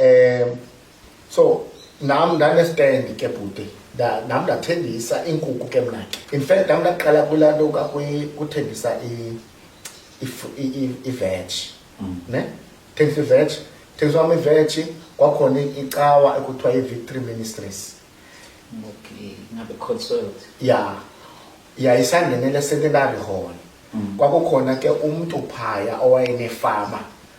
um so nam ndanestand ke bhuti nam ndathengisa iinkukhu ke mna ke in fact nam ndaqala kulaa nto kuthengisa iveg mm. ne thengisa iveg thengisa wam iveg kwakhona icawa ekuthiwa i-victory ministries okay ngabe consult ya yayisangenele secondary hall mm. kwakukhona ke umntu phaya owayenefama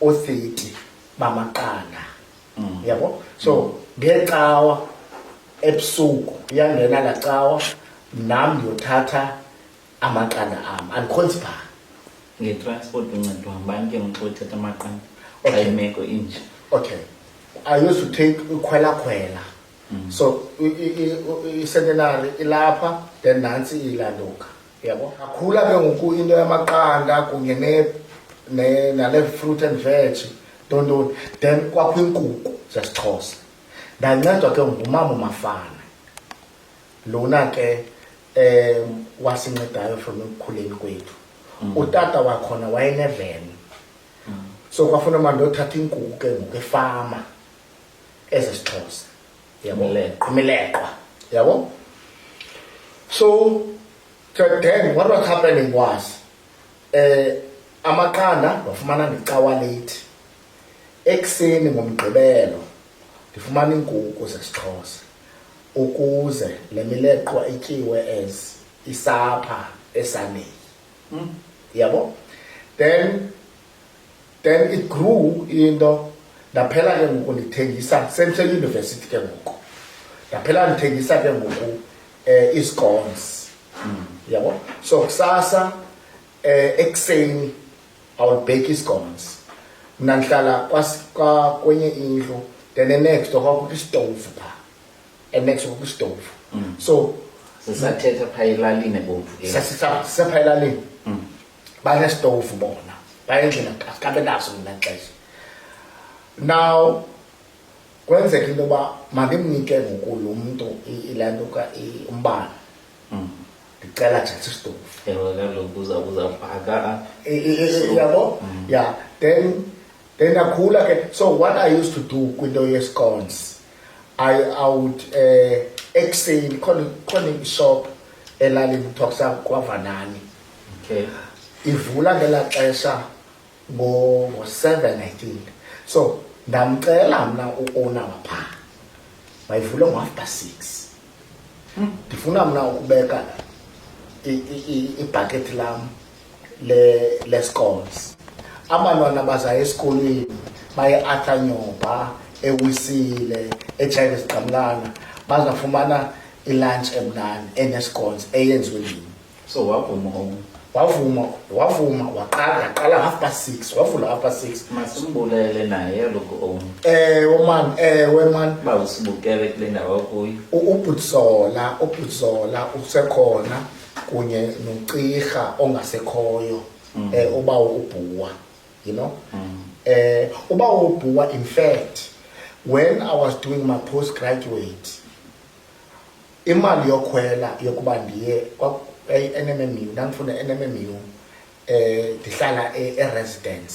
othiti bamaqanda mm. yabo so ngecawa ebusuku iyangena laa cawa nam ndiyothatha amaqanda am andikhonzi phaa ngetransport uncedwa ngubani ke mntu othatha amaqanda xa imeko inje okay i used to take ukhwelakhwela mm. so icentenary ilapha then nantsi ilanduka yabo akhula ke ngoku into yamaqanda kunye nale fruit and veg tontoni then kwakho iinkukhu zesixhosa ndancedwa ke ngumama umafana lona ke um wasincedayo from ekukhuleni kwethu mm. utata wakhona wayeneveni mm. so kwafuna mandi othatha iinkukhu ke ngoku efama ezesixhosa yabo Imileqwa. imileqwa yabo so to then what was happening was eh amaqanda wafumana ndicawa late ekuseni ngomgqibelo ndifumana iinkukhu zesixhosa ukuze le mileqwa ityiwe as isapha esaneni yabo then then it grew into ndaphela ke ngoku ndithengisa sendiseyunivesithi ke ngoku ndaphela ndithengisa ke ngoku um eh, iscones mm. yabo so kusasa um ekuseni i will bake iscones mna ndihlala kwenye indlu then the next door kwakukho isitovu pha and next kwakukho isitovu mm. so sisathetha pha elalini ebomvu sasisapha elalini mm. banesitovu bona bayendlela kabe naso mna xesha now kwenzeka into yoba mandimnike ngoku lo mntu ile nto ka umbane mm. ndicela jatha isitovu yabo mm. ya then then ndakhula ke so what i used to do kwinto yescons i, I would um uh, ekuseni khona ishop elalini kuthiwa kusakwavanaani okay. ivula ngela xesha ngo-seven i think so ndamcela mna uona wapha mayivule ngo-after six hmm. ndifuna mna ukubeka ibhakethi lam le-scores abantwana bazayo esikolweni baye atha nyoba ewisile etshayive zigqamlana bazafumana ilunch emnani enescones eyenziwe ndini so wavuma um wavuma wavuma waqala yaqala half past six wavula half past six masimbulele naye loku om ewe man ewe man uba usibukele kule ndawo kuyo ubhutsola ubhutsola usekhona kunye nocirha ongasekhoyo um uba ubhuwa you know um uba ubhuwa in fact when i was doing my post graduate imali yokhwela yokuba ndiye e-nmmu ndandifunda e-nmmu um eh, ndihlala e-, e-residence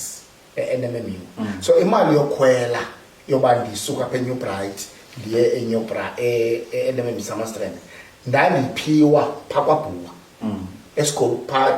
e-nmmu mm. so imali yokhwela yoba ndisuka apha enew bright ndiye enew bra e-nmmu e-, samastrand ndandiphiwa phaa kwabhuwa mm. esikolo phaa